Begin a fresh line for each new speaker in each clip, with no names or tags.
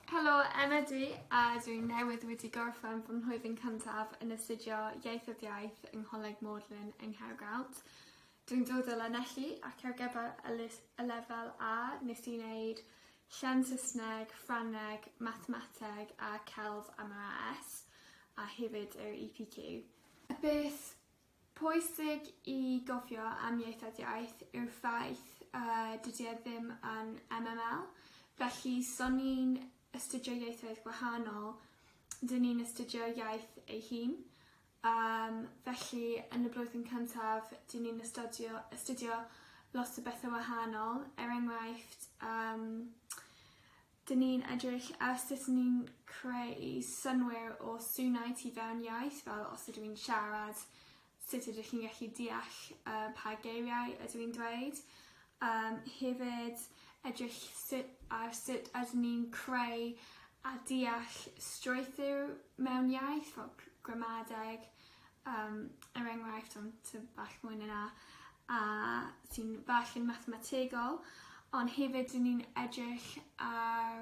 Helo, Emma dwi, a dwi'n newydd wedi gorffen fy mhlwyddyn cyntaf yn astudio Ieithoedd Iaith yng Ngholeg Magdalen yng Nghaergrawnt. Dwi'n dod o Lanelli ac ar gyfer y, lys, y lefel A nes i wneud llen Saesneg, Ffrangeg, Mathemateg a Celf am yr AS a hefyd yr EPQ. Beth Pwysig i gofio am ieithodiaeth yw'r ffaith y dydy e ddim yn MML, felly so ni'n astudio ieithoedd gwahanol, dyn ni'n astudio iaith ei hun, yym felly yn y blwyddyn cyntaf dyn ni'n astudio astudio lot o bethe wahanol, er enghraifft yym Dyn ni'n edrych ar sut ni'n creu synnwyr o swnau tu fewn iaith, fel os ydw i'n siarad, sut ydych chi'n gallu deall uh, pa geiriau ydw i'n dweud. Um, hefyd, edrych sut, ar sut ydyn ni'n creu a deall strwythur mewn iaith, fel gramadeg, um, er enghraifft am ty bach mwy na na, a sy'n bach yn mathemategol, ond hefyd dyn ni'n edrych ar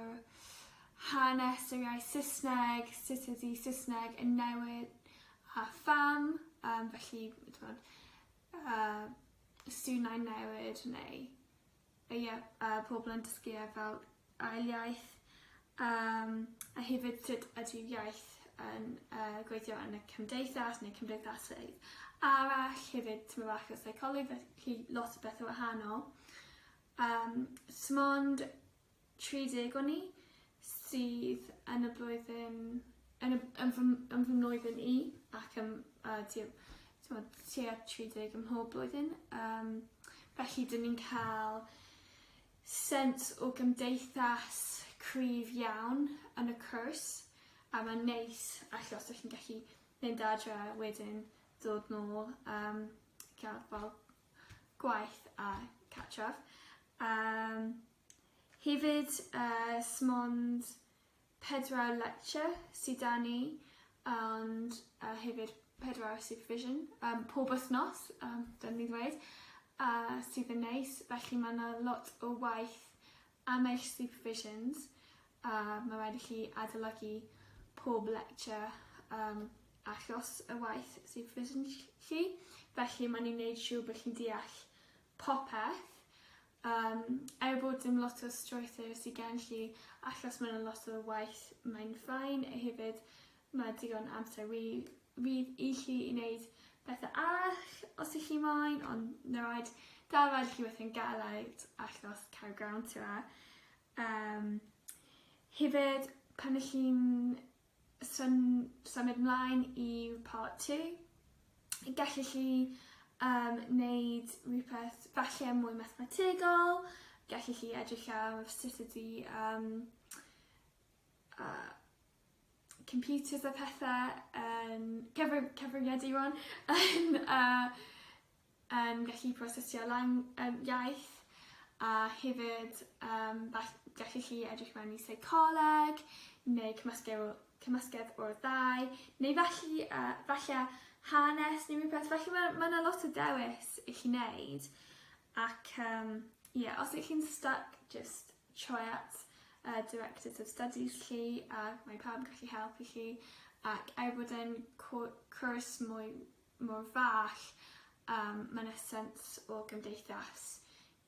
hanes yr iaith Saesneg, sut ydy Saesneg yn newid a pham, um, felly, ti'n gwybod, uh, stunau newid neu Ie, a pobl yn dysgu e fel ail iaith, yym a hefyd sut ydyw iaith yn yy gweithio yn y cymdeithas neu cymdeithasoedd arall, hefyd tymed bach o seicoleg felly lot o bethe wahanol. Yym 'smond 30 o ni sydd yn y blwyddyn, yn y, yn fy, yn fy mlwyddyn i, ac yn, uh, tua, t'mod, tua 30 ym mhob blwyddyn. Um, felly, dyn ni'n cael sens o gymdeithas cryf iawn yn y cwrs, a mae'n neis, allu os ydych chi'n gallu mynd adre wedyn dod nôl, um, cael fel gwaith a catchaf. Um, Hefyd oes mond pedwar lecture sy 'da ni ond yy hefyd pedwar supervision yym pob wythnos yym dylen i ddweud a sydd yn neis felly ma' 'na lot o waith am eich supervisions a ma' raid i chi adolygu pob lecture yym achos y waith supervision ll- chi felly ma' ni'n neud siŵr bo' chi'n deall popeth. Yym, er bod dim lot o strwythur sy gen lli, achos ma' 'na lot o waith mae'n fine, a hefyd ma' digon amser wi- fydd i chi i neud pethe arall os y'ch chi moyn, ond na raid, da raid chi weithio'n galed achos cael grawn tua. Yym, hefyd pan y'ch chi'n Swn symud mlaen i part two. Gellith chi yym neud rhywbeth falle mwy mathemategol, gellith chi edrych ar sut ydi yym yy computers a pethe yn cyfri- cyfrifiadur rwan yn yy yn gallu prosesu lan yym iaith a hefyd yym fall- gallu chi edrych mewn i seicoleg neu cymysgedd o cymysgedd o'r ddau neu felly yy falle hanes neu rhywbeth felly ma' ma' 'na lot o dewis i chi neud ac yym ie os ych chi'n styc jyst troi at y Directors of Studies chi a mae pawb yn gallu helpu chi ac er bod e'n cw- cwrs mwy mor fach a ma' 'na sens o gymdeithas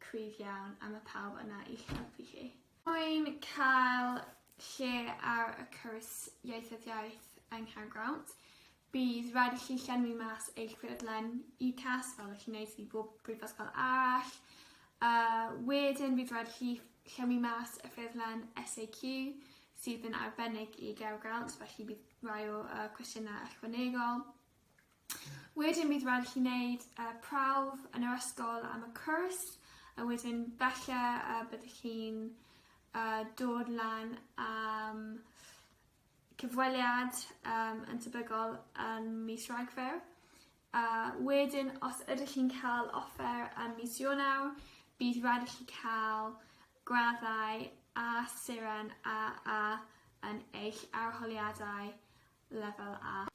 cryf iawn a ma' pawb yna i'ch helpu chi. Rwy'n cael lle ar y cwrs Ieithoedd Iaith yng Nghaergrawnt. Bydd rhaid i chi llenwi mas eich ffurflen UCAS fel ych chi'n neud i bob brifysgol arall. A wedyn bydd rhaid i chi llenwi mas y ffurflen SAQ sydd yn arbennig i Gaergrawnt felly bydd rhai o y cwestiynau ychwanegol. Wedyn bydd raid i chi wneud uh, prawf yn yr ysgol am y cwrs, a wedyn falle uh, byddwch chi'n uh, dod lan am cyfweliad um, yn tebygol yn mis Ragfyr. Uh, wedyn, os ydych chi'n cael offer am mis Ionawr, bydd rhaid i chi cael graddau a seren a a yn eich arholiadau Lefel A.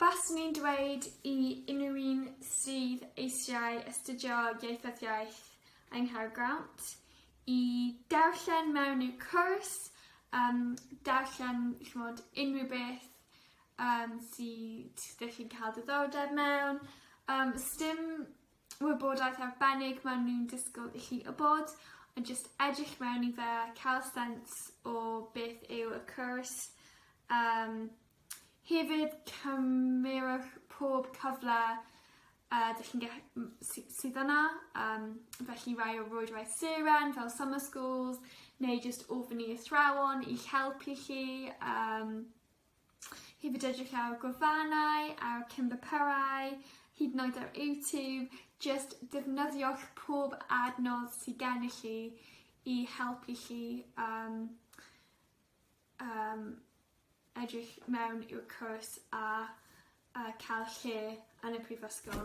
Baswn i'n dweud i unrhyw un sydd eisiau astudio ieithyddiaeth yng Nghaergrawnt i darllen mewn i'r cwrs, um, darllen chmod, unrhyw beth um, sydd ddech chi'n cael diddordeb mewn. Um, stym wybodaeth arbennig maen nhw'n disgwyl i chi wybod, ond jyst edrych mewn i fe, cael sens o beth yw y cwrs. Um, hefyd, cymerwch pob cyfle uh, dych chi'n sydd yna, um, felly rai o rwydwaith seren fel summer schools, neu jyst ofyn i athrawon i'ch helpu chi. Um, Hefyd edrych ar y gwefannau, ar y Cymbypyrau, hyd yn oed ar YouTube, just defnyddiwch pob adnodd sydd gennych chi i helpu chi um, um, edrych mewn i'r cwrs a, a cael lle yn y prifysgol.